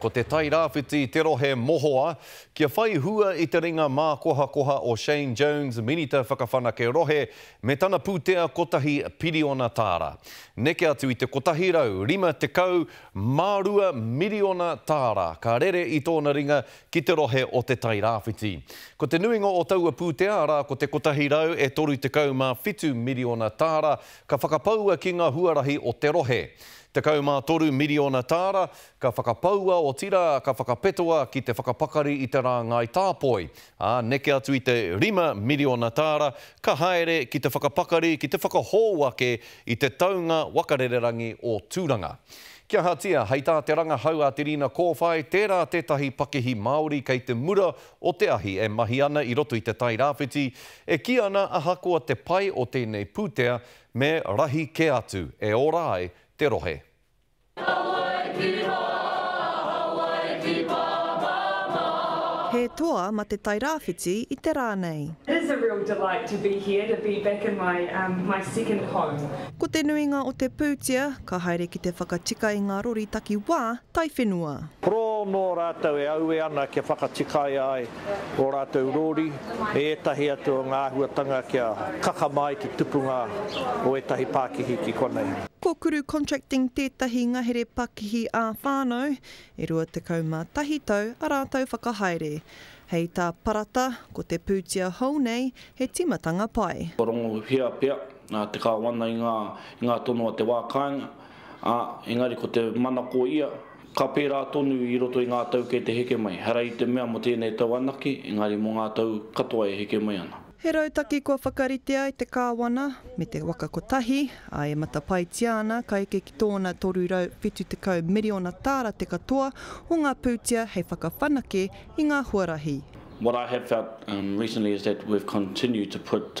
Ko te Tairāwhiti te rohe mohoa kia whai hua i te ringa mākohakoha o Shane Jones, Minita Whakawhanake Rohe, me tana pūtea kotahi piriona tāra. Neke atu i te 152 miriona tāra ka rere i tōna ringa ki te rohe o Te Tairāwhiti. Ko te nuinga o taua pūtea, arā, ko te 137 miriona tāra, ka whakapaua ki ngā huarahi o te rohe. 13 miriona tāra Ka whakapaua, otirā, ka whakapetoa ki te whakapakari i te rāngai tāpoi, ā, neke atu i te rima miriona tāra, ka haere ki te whakapakari, ki te whakahou ake i te taunga waka rererangi o Tūranga. Ki ahatia, hei tā te rangahau a Te Rina Kōwhai, tērā tētahi pakihi Māori kei te mura o te ahi e mahi ana i roto i Te Tai Rāwhiti, e kī ana ahakoa te pai o tēnei pūtea, me rahi kē atu, e ora ai te rohe. He toa ma te Tairāwhiti i te rā nei. Is a real delight to be here to be back in my my second home. Ko te nuinga o te pūtea ka haere ki te whakatika i ngā rori takiwā taiwhenua. Pro nō rātou e aue ana kia whakatikaia ai ō rātou rōri e ētahi atu o ngā āhuatanga kia kakama ai te tupunga o ētahi pākihi ki konei. Ko Kuru Contracting tētahi ngahere pakihi ā-whānau, e 21 tau a rātou whakahaere. Hei tā Parata, ko te pūtia hou nei he tīmatanga pai. Kua rongohia pea te kāwana i ngā tono a te wā kāinga, ā, engari ko te manako ia Ka pērā tonu i roto i ngā tau kei te heke mai, ehara i te mea mō tēnei tau anake, engari mō ngā tau katoa e heke mai ana. He rautaki kua whakaritea e te Kāwana me te waka kotahi, ā, e matapaitia ana ka eke ki tōna 370 miriona tāra te katoa o ngā pūtea hei whakawhanake i ngā huarahi. What I have felt recently is that we've continued to put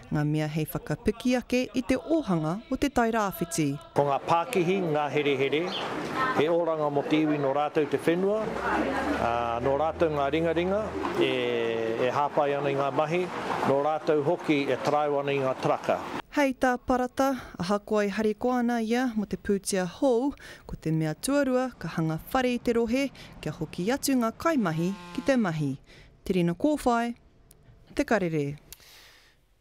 ngā mea hei whakapiki ake i te ōhanga o Te Tai Rāwhiti. Ko ngā pākihi, ngā herehere, he oranga mō te iwi nō rātou te whenua, ā, nō rātou ngā ringaringa e, e hāpai ana i ngā mahi, nō rātou hoki e taraiwa ana i ngā taraka. Hei tā Parata, ahakoa e harikoa ana ia mō te pūtea hou, ko te mea tuarua ka hanga whare i te rohe kia hoki atu ngā kaimahi ki te mahi. Te rina kōwhai, te karere.